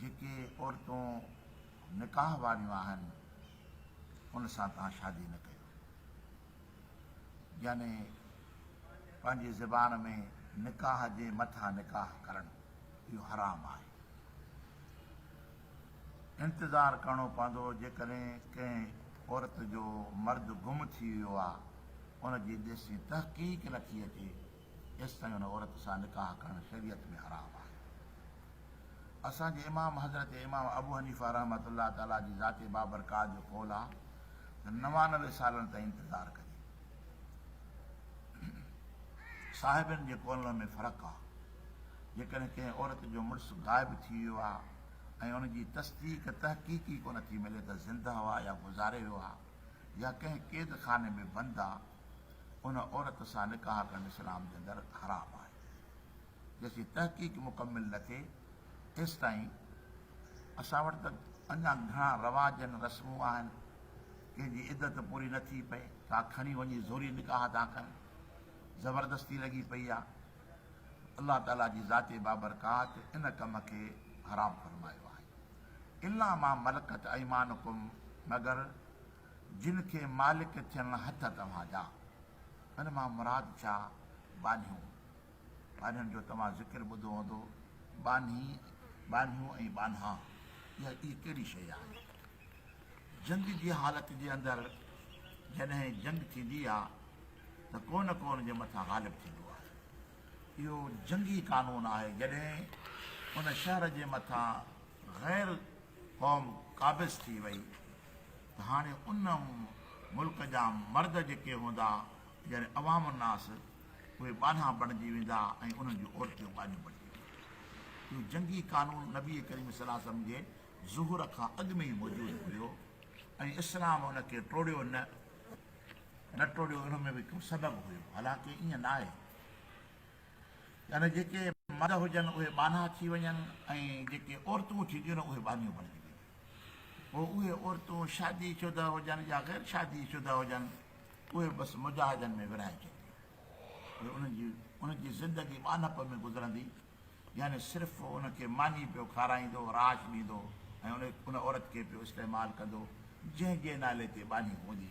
جيڪي عورتون نڪاح واريون آهن ان سان توهان شادي نه ڪيو يعني پنهنجي زبان ۾ نڪاح جي مٿان نڪاح ڪرڻ اهو حرام آهي انتظار ڪرڻو پوندو جيڪڏهن ڪنهن عورت جو مرد گم ٿي ويو آهي ان جي ڏسي تحقيق لکي اچي ايستائين ان عورت سان نڪاح ڪرڻ شريعت ۾ حرام آهي. اسان جي امام حضرت امام ابو حنيفه رحمة الله تعالٰي جي ذات بابرڪات جو قول آهي ته نوانوي سالن تائين انتظار ڪجي. صاحبين جي قولن ۾ فرق آهي. جيڪڏهن ڪنهن عورت جو مڙس غائب ٿي ويو آهي ۽ ان جي تصديق تحقيقي ڪونه ٿي ملي ته زنده آهي يا گذاري ويو آهي يا ڪنهن قيد خاني ۾ بند آهي، ان عورت سان نڪاح ڪرڻ اسلام جي اندر حرام آهي جيسين تحقيق مڪمل نه ٿئي ايستائين اسان وٽ ته اڃا گهڻا رواج آهن رسمون آهن ڪنهن جي عدت پوري نه ٿي پئي ڪا کڻي وڃي زوري نڪاح ٿا ڪن زبردستي لڳي پئي آ الله تعاليٰ جي ذات بابرڪات ان ڪم کي حرام فرمايو آهي الا ما ملڪت ايمانڪم مگر جن کي مالڪ ٿيڻ هٿ توهان جا. ان مان مراد ڇا؟ ٻانهيون. ٻانهين جو توهان ذڪر ٻڌو هوندو، ٻانهي، ٻانهيون ۽ ٻانها. اها ڪهڙي شيء آهي؟ جنگ جي حالت جي اندر جڏهن جنگ ٿيندي آ ته ڪو نه ڪو ان جي مٿان غالب ٿيندو آهي. اهو جنگي قانون آهي جڏهن ان شهر جي مٿان غير قوم قابض ٿي وئي ته هاڻي ان ملڪ جا مرد جيڪي هوندا يعني عوام الناس اهي ٻانها بڻجي ويندا ۽ انهن جون عورتيون ٻانهيون بڻجي وينديون. اهو جنگي قانون نبي ڪريم صلي الله عليه وسلم جي ظهور کان اڳ ۾ ئي موجود هيو ۽ اسلام ان کي ٽوڙيو نه نه ٽوڙيو ان ۾ به ڪو سبب هيو حالانڪ ائين ناهي يعني جيڪي مرد هجن اهي ٻانها ٿي وڃن ۽ جيڪي عورتون ٿينديون نه اهي ٻانهيون بڻجي وينديون. پوء اهي عورتون شادي شده هجن يا غير شادي شده هجن اهي بس مجاهدن ۾ ورهائجنديون پوء انهن جي انهن جي زندگي ٻانهپ ۾ گذرندي يعني صرف ان کي ماني پيو کارائيندو راش ڏيندو ۽ ان عورت کي پيو استعمال ڪندو جنهن جي نالي تي ٻانهي هوندي.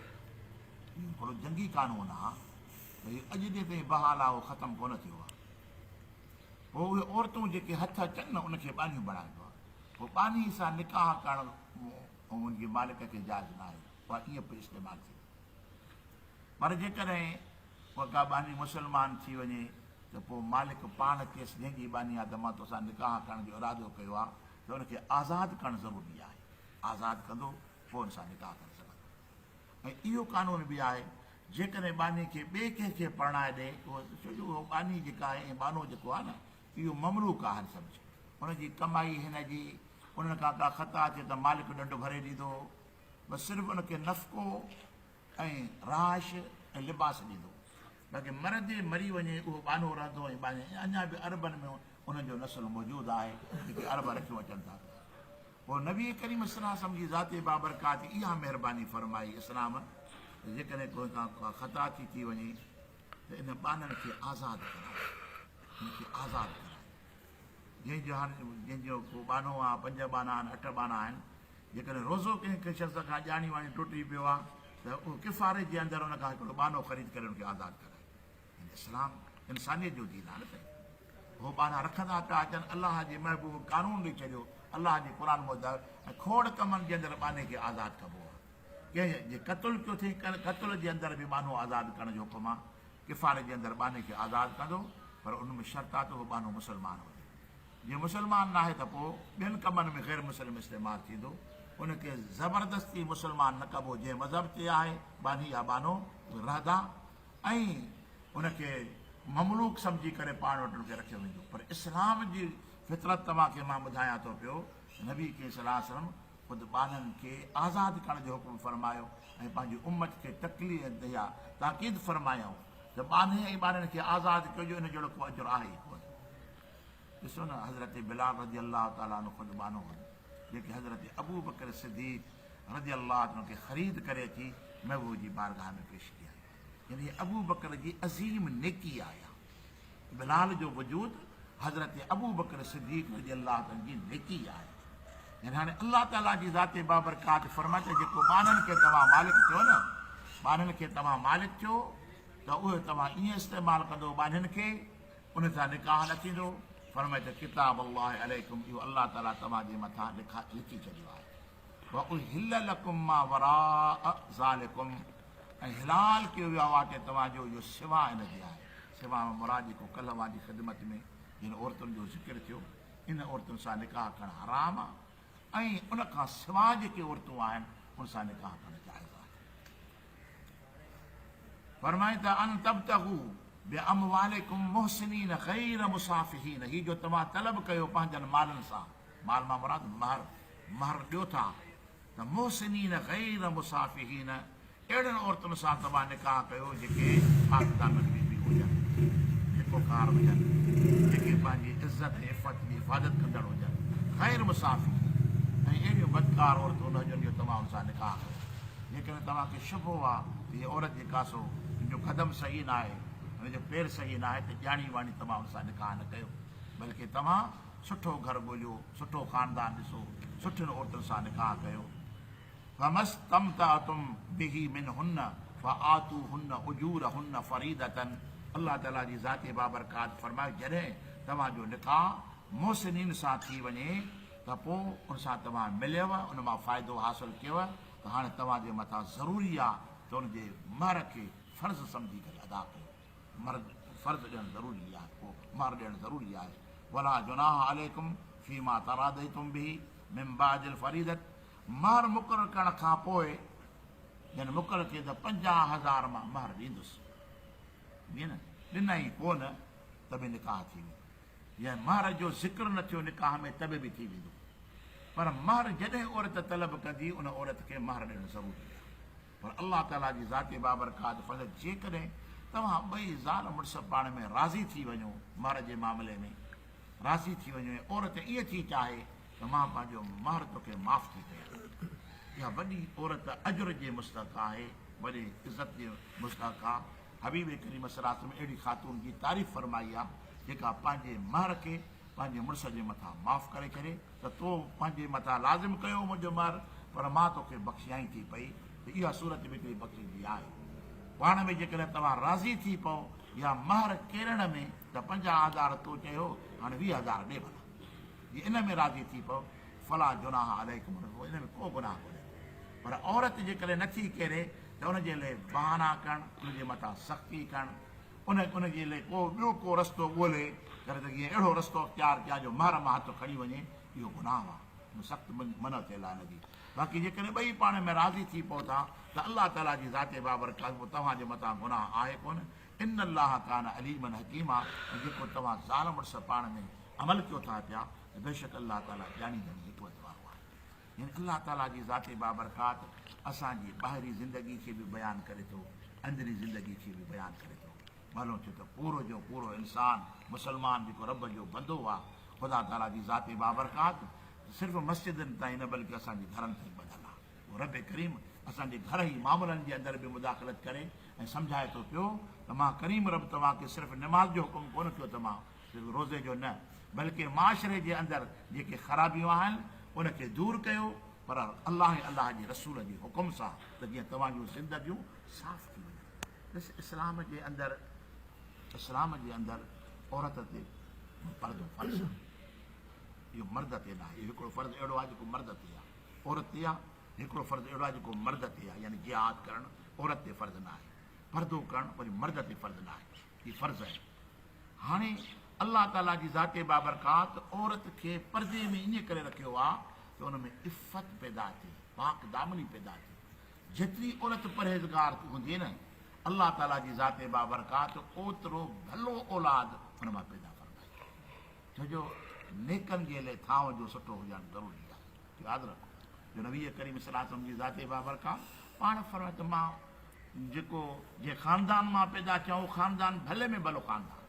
اهو هڪڙو جنگي قانون آ ته اهو اڄ جي تائين بحال آ اهو ختم ڪونه ٿيو آ پوء اهي عورتون جيڪي هٿ اچن نه ان کي ٻانهيون بڻائبو آ پوء ٻانهي سان نڪاح ڪرڻ ان جي مالڪ کي جائز نه آهي اها ائين پئي استعمال ٿئي پر جيڪڏهن اها ڪا ٻانهي مسلمان ٿي وڃي ته پوء مالڪ پاڻ چيس جنهن جي ٻانهي آ ته مان توسان نڪاح ڪرڻ جو ارادو ڪيو آ ته ان کي آزاد ڪرڻ ضروري آهي آزاد ڪندو فون سان نڪاح ڪري سگهندو ۽ اهو قانون به آهي جيڪڏهن ٻانهي کي ٻئي ڪنهن کي پرڻائي ڏئي اهو ڇو جو اهو ٻانهي جيڪا آهي ۽ ٻانهو جيڪو آهي نه اهو مملوڪ آهن سمجهه ان جي ڪمائي هن جي انهن کان ڪا خطا اچي ته مالڪ ڏنڊ ڀري ڏيندو بس صرف ان کي نفقو ۽ رهائش ۽ لباس ڏيندو باقي مر جي مري وڃي اهو ٻانهو رهندو ۽ ٻانهي اڃا به عربن ۾ انهن جو نسل موجود آهي جيڪي عرب رکيون اچن ٿا پوء نبي ڪريم صلّي اللّٰه عليه وسلّم جي ذات بابرڪات اها مهرباني فرمائي اسلام ته جيڪڏهن ڪنهن کان ڪا خطا ٿي ٿي وڃي ته ان ٻانهن کي آزاد ڪرايو، ان کي آزاد ڪرايو، جنهن جو هر جنهن جو ڪو ٻانهو آهي، پنج ٻانها آهن، اٺ ٻانها آهن، جيڪڏهن روزو ڪنهن ڪنهن شخص کان ڄاڻي واڻي ٽٽي پيو آهي ته اهو ڪفاري جي اندر ان کان هڪڙو ٻانهو خريد ڪري ان کي آزاد ڪرايو. هن اسلام انسانيت جو دين آهي نه سائين هو ٻانها رکندا پيا اچن الله جي محبوب قانون ڏئي ڇڏيو الله جي قرآن مدد کوڙ ڪمن جي اندر ٻانهي کي آزاد ڪبو آهي ڪنهن جي قتل ڪيو ٿي قتل جي اندر به ٻانهو آزاد ڪرڻ جو حڪم آهي کفارت جي اندر ٻانهي کي آزاد ڪندو پر ان ۾ شرط آهي ته اهو ٻانهو مسلمان هجي جي مسلمان ناهي ته پوء ٻين ڪمن ۾ غير مسلم استعمال ٿيندو ان کي زبردستي مسلمان نه ڪبو جنهن مذهب چي آهي ٻانهي يا ٻانهو رهدا ۽ ان کي مملوڪ سمجهي ڪري پاڻ وٽ ان کي رکيو ويندو پر اسلام جي فطرت توهان کي مان ٻڌايان ٿو پيو ته نبي ڪريم صلي الله عليه وسلم خود ٻانهن کي آزاد ڪرڻ جو حڪم فرمايو ۽ پنهنجي امت کي تڪلي ۽ تيا تاڪيد فرمايائون ته ٻانهي ۽ ٻارڙين کي آزاد ڪجو ان جهڙو ڪو اجر آهي ئي ڪونه ڏسو نه حضرت بلال رضي الله تعالٰي عنه خود ٻانهو هيو جيڪي حضرت ابو بڪر صديق رضي الله عنه کي خريد ڪري اچي محبوب جي بارگاھ ۾ پيش ڪيائين يعني هي ابوبڪر جي عظيم نيڪي آهي بلال جو وجود حضرت ابوبڪر صديق رضي الله عنه جي نيڪي آهي يعني هاڻي الله تعالي جي ذات بابرڪات فرمائي ته جيڪو ٻانهن کي توهان مالڪ چيو نه ٻانهن کي توهان مالڪ چيو ته اهو توهان ائين استعمال ڪندو ٻانهن کي ان سان نڪاح نه ٿيندو فرمائي ته ڪتاب الله عليڪم اهو الله تعالي توهان جي مٿان لکا لکي ڇڏيو آهي واحل لکم ما وراء ذالکم ۽ حلال ڪيو ويو آ واقعي توهان جو اهو سوا ان جي آهي سوا مان مراد جيڪو ڪلهه اوهان جي خدمت ۾ جن عورتن جو ذڪر ٿيو انهن عورتن سان نڪاح ڪرڻ حرام آ ۽ ان کان سوا جيڪي عورتون آهن ان سان نڪاح ڪرڻ جائز آهي فرمائين ته ان تبتغو باموالکم محسنين غير مصافحين هي جو توهان طلب ڪيو پنهنجن مالن سان مال مان مراد مهر مهر ڏيو ٿا ته محسنين غير مسافحين اهڙين عورتن سان توهان نڪاح ڪيو جيڪي پاڪ دامن بي بيون هجن، نيڪوڪار هجن، جيڪي پنهنجي عزت ۽ عفت جي حفاظت ڪندڙ هجن، غير مسافحين ۽ اهڙيون بدڪار عورتون نه هجن جو توهان ان سان نڪاح ڪيو، جيڪڏهن توهان کي شبهو آ ته هيء عورت جيڪا سو ان جو قدم صحيح ناهي ۽ ان جو پير صحيح ناهي ته ڄاڻي واڻي توهان ان سان نڪاح نه ڪيو بلڪه توهان سٺو گهر ڳوليو، سٺو خاندان ڏسو، سٺين عورتن سان نڪاح ڪيو. فما استمتعتم به منهن فآتوهن اجورهن فريضة الله تعاليٰ جي ذات بابرڪات فرمايو جڏهن توهان جو نڪاح محسنين سان ٿي وڃي ته پوء ان سان توهان مليو ان مان فائدو حاصل ڪيو ته هاڻي توهان جي مٿان ضروري آهي ته ان جي مهر کي فرض سمجهي ڪري ادا ڪيو. مرد فرض ڏيڻ ضروري آهي پوء مهر ڏيڻ ضروري آهي ولا جناح عليڪم فيما تراديتم به من بعد الفريضه مهر مقرر ڪرڻ کان پوء جن مقرر کي ته پنجاهه هزار مان مهر ڏيندس ڏنئي ڏنئي پوء نه ته به نڪاح ٿي ويندو يا مهر جو ذڪر نه ٿيو نڪاح ۾ ته به ٿي ويندو پر مهر جڏهن عورت طلب ڪندي ان عورت کي مهر ڏيڻ ضروري آهي پر الله تعاليٰ جي ذات بابرڪات فقط جيڪڏهن توهان ٻئي زال مڙس پاڻ ۾ راضي ٿي وڃو، مهر جي معاملي ۾ راضي ٿي وڃو ۽ عورت ائين ٿي چاهي ته مان پنهنجو مهر توکي معاف ٿي ڪيان. اها وڏي عورت اجر جي مستحق آهي، وڏي عزت جي مستحق آ. حبيب ڪريم صلي الله عليه وسلم اهڙي خاتون جي تعريف فرمائي آ، جيڪا پنهنجي مهر کي پنهنجي مڙس جي مٿان معاف ڪري ڇڏي. ته تو پنهنجي مٿان لازم ڪيو منهنجو مهر، پر مان توکي بخشيائين ٿي پئي ته اها صورت به هڪڙي بخشش جي آهي. پاڻ ۾ جيڪڏهن توهان راضي ٿي پئو يا مهر ڪيرڻ ۾ ته پنجاهه هزار تو چيو هاڻي ويهه هزار ڏي ڀلا. جي ان ۾ راضي ٿي پئو فلا جناح عليڪم ان ۾ ڪو گناهه ڪونهي. پر عورت جيڪڏهن نٿي ڪيري ته ان جي لئه بهانا ڪرڻ، ان جي مٿان سختي ڪرڻ، ان ان جي لئه ڪو ٻيو ڪو رستو ڳولي ڪر ته جيئن اهڙو رستو اختيار ڪيا جو مهر مان هٿ کڻي وڃي اهو گناهه آ ۽ سخت منع ٿيل آ ان جي باقي جيڪڏهن ٻئي پاڻ ۾ راضي ٿي پئو ٿا ته الله تعالي جي ذات بابرڪات به توهان جي مٿان گناهه آهي ڪونه ان الله ڪان عليما حڪيما ۽ جيڪو توهان زال مڙس پاڻ ۾ عمل ڪيو ٿا پيا ته بيشڪ الله تعالي ڄاڻي ڄاڻي حڪمت وارو آهي. يعني الله تعاليٰ جي ذات بابرڪات اسان جي ٻاهرين زندگي کي به بيان ڪري ٿو، اندرين زندگي کي به بيان ڪري ٿو. ڀلو ٿيو ته پورو جو پورو انسان، مسلمان جيڪو رب جو بندو آ، خدا تعاليٰ جي ذات بابرڪات صرف مسجدن تائين نه بلڪه اسان جي گهرن تائين ٻڌل آ. پوء رب ڪريم اسان جي گهرهي معاملن جي اندر به مداخلت ڪري ۽ سمجهائي ٿو پيو ته مان ڪريم رب توهان کي صرف نماز جو حڪم ڪونه ڪيو ته مان صرف روزي جو نه بلڪه معاشري جي اندر جيڪي خرابيون آهن ان کي دور ڪيو پر الله ۽ الله جي رسول جي حڪم سان ته جيئن توهان جون زندگيون صاف ٿي وڃن ڏس اسلام جي اندر اسلام جي اندر عورت تي پردو فرض آهي اهو مرد تي نه آهي اهو هڪڙو فرض اهڙو آهي جيڪو مرد تي آهي عورت تي آهي هڪڙو فرض اهڙو آهي جيڪو مرد تي آهي يعني جهاد ڪرڻ عورت تي فرض نه آهي پردو ڪرڻ وري مرد تي فرض نه آهي ڪي فرض آهن. هاڻي الله تعاليٰ جي ذات بابرڪات عورت کي پردي ۾ ائين ڪري رکيو آهي ته ان ۾ عفت پيدا ٿئي، پاڪ دامني پيدا ٿئي. جيتري عورت پرهيزگار هوندي نه الله تعاليٰ جي ذات بابرڪات اوترو ڀلو اولاد ان مان پيدا فرمائيندو. ڇو جو نيڪن جي لئه ٿانو جو سٺو هجڻ ضروري آهي. ياد رکو جو نبي ڪريم صلي الله عليه وسلم جي ذات بابرڪات پاڻ فرمائي ته مان جيڪو جنهن خاندان مان پيدا ٿيو اهو خاندان ڀلي ۾ ڀلو خاندان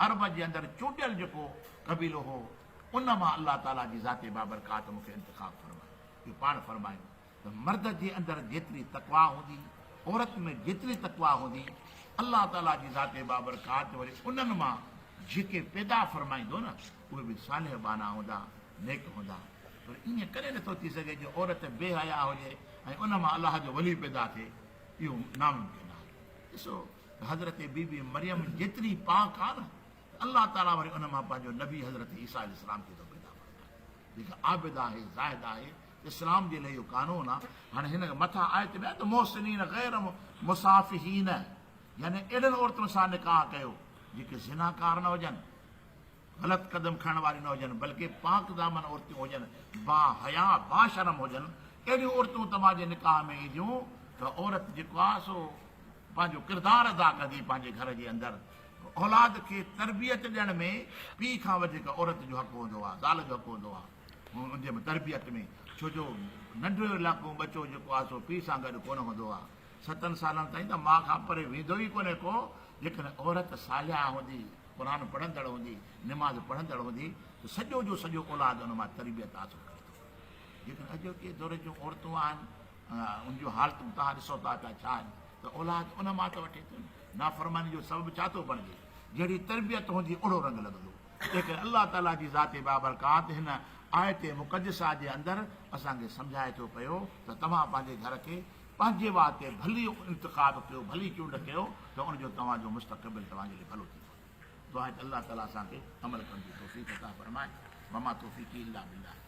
عرب جي اندر چونڊيل جيڪو قبيلو هو ان مان الله تعالي جي ذات بابرڪات مون کي انتخاب فرمايو جو پاڻ فرمايو ته مرد جي اندر جيتري تقويٰ هوندي عورت ۾ جيتري تقويٰ هوندي الله تعالي جي ذات بابرڪات وري انهن مان جيڪي پيدا فرمائيندو نه اهي به صالح ٻانها هوندا، نيڪ هوندا. پر ائين ڪڏهن نه ٿو ٿي سگهي جو عورت بي حياء هجي ۽ ان مان الله جو ولي پيدا ٿئي. اهو ناممڪن آهي. ڏسو ته حضرت بي بي مريم جيتري پاڪ آهي نه ته الله تعاليٰ وري ان مان پنهنجو نبي حضرت عيسيٰ عليه السلام کي ٿو پيدا فرمائي جيڪا عابده آهي، زاهده آهي. اسلام جي لاء اهو قانون آهي. هاڻي هن مٿان آيت ۾ آهي ته محسنين غير مصافحين يعني اهڙين عورتن سان نڪاح ڪيو جيڪي زناڪار نه هجن. غلط قدم کڻڻ واريون نه هجن بلڪه پاڪ دامن عورتيون هجن، با حيا، با شرم هجن، اهڙيون عورتون توهان جي نڪاح ۾ اينديون ته عورت جيڪو آهي سو پنهنجو ڪردار ادا ڪندي پنهنجي گهر جي اندر اولاد کي تربيت ڏيڻ ۾ پيء کان وڌيڪ عورت جو حق هوندو آهي زال جو حق هوندو آهي ان جي تربيت ۾ ڇو جو ننڍڙو لاڪو ٻچو جيڪو آهي سو پيء سان گڏ ڪونه هوندو آهي. ستن سالن تائين ته ماء کان پري ويندو ئي ڪونهي ڪو، جيڪڏهن عورت صالحه هوندي، قرآن پڙهندڙ هوندي، نماز پڙهندڙ هوندي ته سڄو جو سڄو اولاد ان مان تربيت حاصل ڪري ٿو. جيڪڏهن اڄوڪي دور جون عورتون آهن ان جون حالتون توهان ڏسو ٿا پيا ڇا آهن ته اولاد ان مان ته وٺي ٿيون نه. نافرماني جو سبب ڇا ٿو بڻجي؟ جهڙي تربيت هوندي اهڙو رنگ لڳندو. تنهنڪري الله تعاليٰ جي ذات بابرڪات هن آيت مقدسه جي اندر اسان کي سمجهائي ٿو پيو ته توهان پنهنجي گهر کي پنهنجي واء تي ڀلي انتخاب ڪيو، ڀلي چونڊ ڪيو ته ان جو توهان جو مستقبل توهان جي لئي ڀلو ٿيندو. دعا آهي ته الله تعالي اسان کي عمل ڪرڻ جي توفيق عطا فرمائي. وما توفيقي الا بالله.